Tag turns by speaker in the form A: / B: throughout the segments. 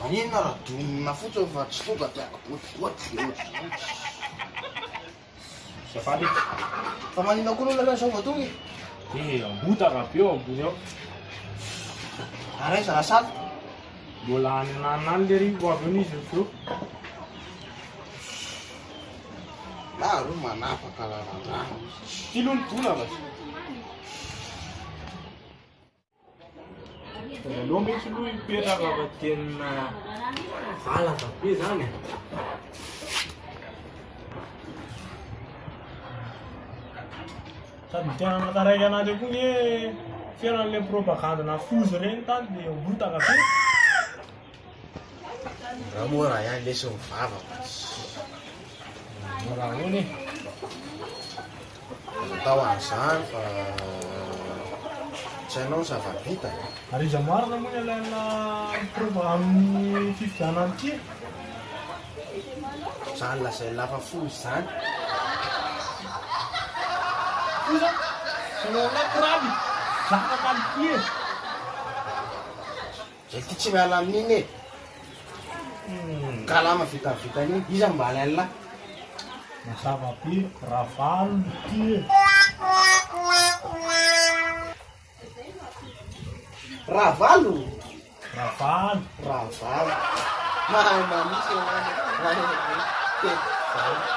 A: Maninona ra donina fotsiny fa tsy tonga de agotigoty de otr'zay Zay fa le Fa maninona koa lona zao vao tonga e? Eh ambota ra be ao ambony ao. Ary aiza ra sala? Mbola any ananona any lery vao avy eo n'izy avy eo. Na aloha manapaka lalandava. Ty lo ny donana. Aleo mihitsy aloha hipetraka fa tena valaka be zany e. Sady tena mataraiky an'andry koa ny hoe fiainan'ilay propagande na foza ireny tany dia mibotaka be. Raha moa raha ihany lesy ny vavako. Mora ahoana e? Aza atao an'izany fa tsy hainao ny zava-bita. Ary iza marina moa ny alaina miprova amin'ny fifidianana ity? Izany lazain'i lava fo izany. Kosa selon-ny akory any, zaka kalitỳ e! Zay ty tsy miala amin'iny e! Kalama vita vita an'iny, iza no mba alain'la? Mazava be, Ravalo ty e! Ravalo? Ravalo. Ravalo. Mahay mamitsy ianao. Mahay mamitsy. Tena.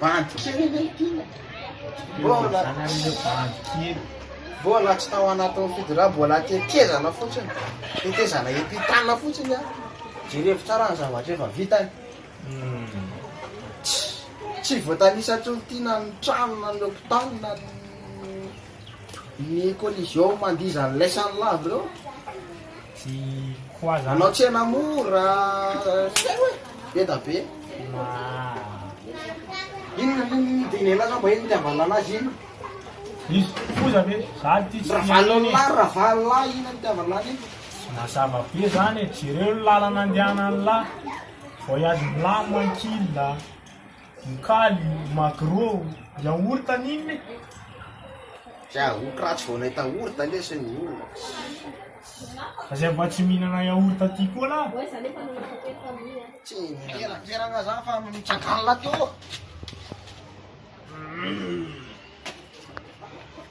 A: Bandy kely ve ity? Mbola mbola tsy tao anatin'ny fidira, mbola tetezana fotsiny, tetezana epitana fotsiny an. Jerevo tsara ny zavatra efa vitany. Hmm. Tsy voatanisa tsy olon-tiana ny trano na ny hôpitaly na ny Ny collision mandia izany laisany lavo ireo a! Manao tsena mora zay hoe be da be! Inona moa ny Daniela sa mba iny nitiavana anazy iny? Izy kosa ve zany ty tsy Ravalo ny lahy, ravalo lahy iny nitiavana any iny! Mazava be zany e! Jereo ny lalana andehanan'ny lahy! Voyage milamina ankilda! Vokaly, magro, yaourt an'inona e? Yaourt ratsy vao nahita ourta lesy ny olona. Aza mba tsy mihinana yaourt aty koa lah. Tsy mihinana. Miera za fa mitsakanla teo.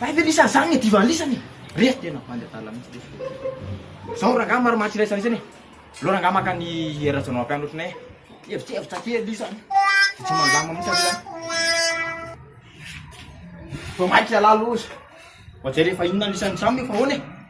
A: Hay ve lisany zany ny divan lisany e. Re tena bandy adala mihitsy le fo. Zao rangah maromaro tsy iraisana isany e. Aleo rangah maka ny Hery Rajaonarimampianina ohatry nay e. Evitrevitra kely lisany. Dia tsy mandama mihitsy aloha zany. Vao maika ialahy loza. Vao jereo fa inona lisany samy io fa ahoana e.